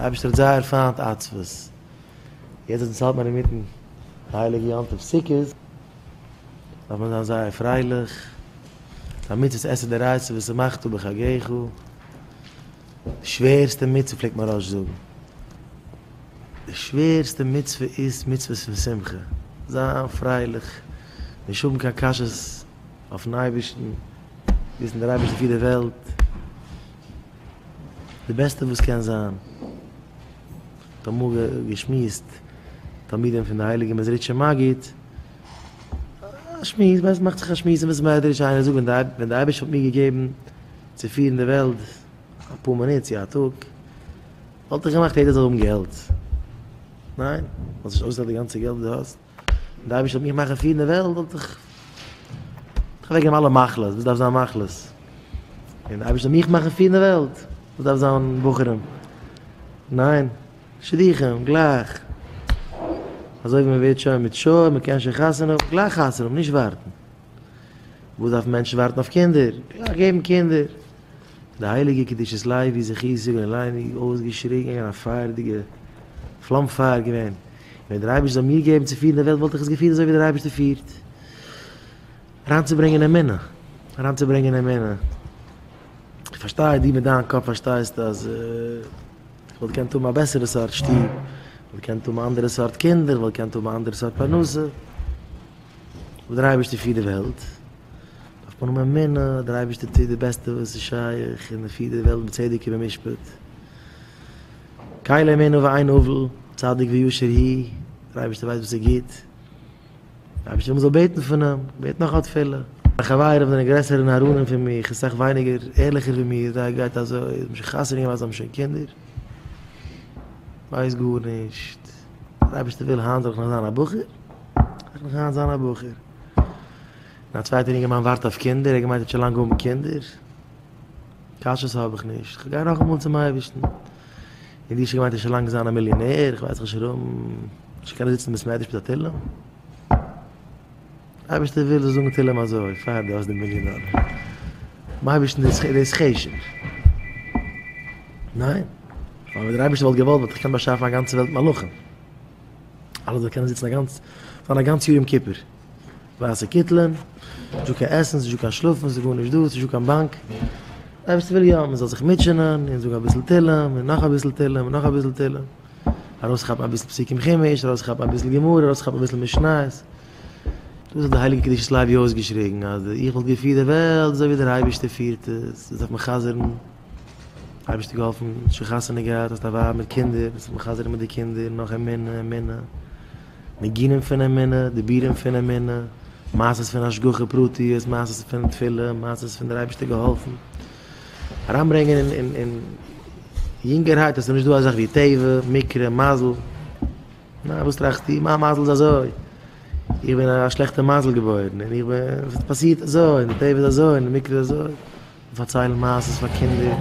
דער אייבערשטער האט זייער פיינט עצבות, יעצט ווען עס האלט מען אינמיטן די הייליגע יום טוב סוכות, דארף מען זיין זייער פרייליך, די מצות עשה דרייצען ושמחת בחגיך, די שווערסטע מצוה פלעגט מהרא ש זאגן, די שווערסטע מצוה איז מצוות פון שמחה, זיין פרייליך, נישט האבן קיין קשיות אויפן אייבערשטן, וויסן דער אייבערשטער פירט די וועלט. די בעסטע וואס קען זיין, האט אמאל געשמועסט תלמידים פון די הייליגע מעזריטשע מגיד, א שמועס, ווייסט מאכט זיך א שמועס אין בית המדרש, איינער זאגט ווען די ווען די אייבערשטער האט מיר געגעבן צו פירן די וועלט אפאר מינוט צו א טאג, וואלט איך געמאכט יעדער זאל האבן געלט, ניין? וואלסט נישט אויסגעלאזט די גאנצע געלט וואס די האסט? די אייבערשטער וועט מיך מאכן פירן די וועלט וואלט איך איך וועגן אלע מחלות וואס דארף זיין מחלות און די אייבערשטער מיך מאכן פירן די וועלט וואס דארף זיין בוחרים ניין שליחים גלייך אזוי ווי מען ווערט שוין מיט שור מען קען שוין חתונה האבן גלייך חתונה האבן נישט ווארטן וואס דארף מענטשן ווארטן אויף קינדער גלייך געבן קינדער די הייליגע קדושת לייבי זכיסי בן לייבי אויסגעשריגן אין א פייערדיגע פלאם פייער געווען ווען דער אייבערשטער זאל מיר געבן צו פירן די וועלט וואלט איך עס געפירט אזוי ווי דער אייבערשטער פירט. אריינצוברענגען אמונה, אריינצוברענגען אמונה. איך פארשטיי דו מיט דיין קאפ פארשטייסט אז איך וואלט געקענט האבן א בעסערע סארט שטוב, איך וואלט געקענט האבן אנדערע סארט קינדער, איך וואלט געקענט האבן א אנדערע סארט פרנסה. אבער דער אייבערשטער פירט די וועלט, דארף מען האבן אמונה אז דער אייבערשטער טוט די בעסטע וואס איז שייך און ער פירט די וועלט בצדק ובמשפט. קאי לעמינו ואין הבל, צדיק וישר הי', דער אייבערשטער ווייסט וואס איז גוט, דער אייבערשטער זאל בעטן פון אים, בעט נאך א תפלה. מיין חברים זענען גרעסער און ארונים פון מיך און סאך ווייניגער ערליכער ווי מיר, זיי גייט אזוי, זיי האבן שוין חתונה געמאכט, זיי האבן שוין קינדער, ווייסט גארנישט, דער אייבערשטער וויל היינט זאל איך נאך זיין א בחור, זאל איך נאך היינט זיין א בחור, און א צווייטער אינגערמאן ווארט אויף קינדער, ער געמיינט ער האט שוין לאנג האבן קינדער, קשיות האב איך נישט, כ'גיי נאכאמאל צום אייבערשטן. און די ש געמיינט איז שוין לאנג זיין א מיליאנער, כ'ווייס נישט ארום, נישט קענען זיצן אין בית מדרש מיט א תהלים. אייבערשטער וויל זיי זאגן תהלים אזוי, פאר דו האסט די מיליאן דאלער. ביים אייבערשטן איז דאס חשק. ניין? ווייל ווען דער אייבערשטער וואלט געוואלט וואלט ער געקענט באשאפן א גאנצע וועלט מלאכים. אלע זאלן קענען זיצן א גאנץ, זיין א גאנץ יאר יום כיפור. ווייסע קיטלען, ס'איז נישטא קיין עסן, ס'איז נישטא קיין שלאפן, ס'איז גארנישט דא, ס'איז נישטא קיין באנק. עפעס וויל יא מען זאל זיך מוטשענען און זאגן אביסל תהלים און נאך אביסל תהלים און נאך אביסל תהלים. ארויסכאפן אביסל פסוקים חומש, ארויסכאפן אביסל גמרא, ארויסכאפן אביסל משניות. דאס האט די הייליגע קדושת לוי אויסגעשריגן אז איך וואלט געפירט די וועלט אזוי ווי דער אייבערשטער פירט עס, דאס דארף מען חזר'ן. אייבערשטער געהאלפן, שוין חתונה געהאט, האסט א ווייב מיט קינדער, ביסט זיך מחזק מיט די קינדער, נאך אמונה, אמונה, ניגונים פון אמונה, דיבורים פון אמונה, מעשות פון השגחה פרטיות, מעשות פון תפילה, מעשות פון דער אייבערשטער געהאלפן, אריינברענגען אין, אין, אין, יונגערהייט, עס איז נישטא אזאך ווי טבע, מקרה, מזל. נאַ, װאָס טראַכסטו? מײַן מזל איז אַזױ. איך בין אַ שלעכטער מזל געבױרן, און איך בין, עס האָט פּאַסירט אַזױ, און די טבֿע איז אַזױ, און די מקרה איז אַזױ. מיר פֿאַרצײלן מעשׂות פֿאַר קינדער.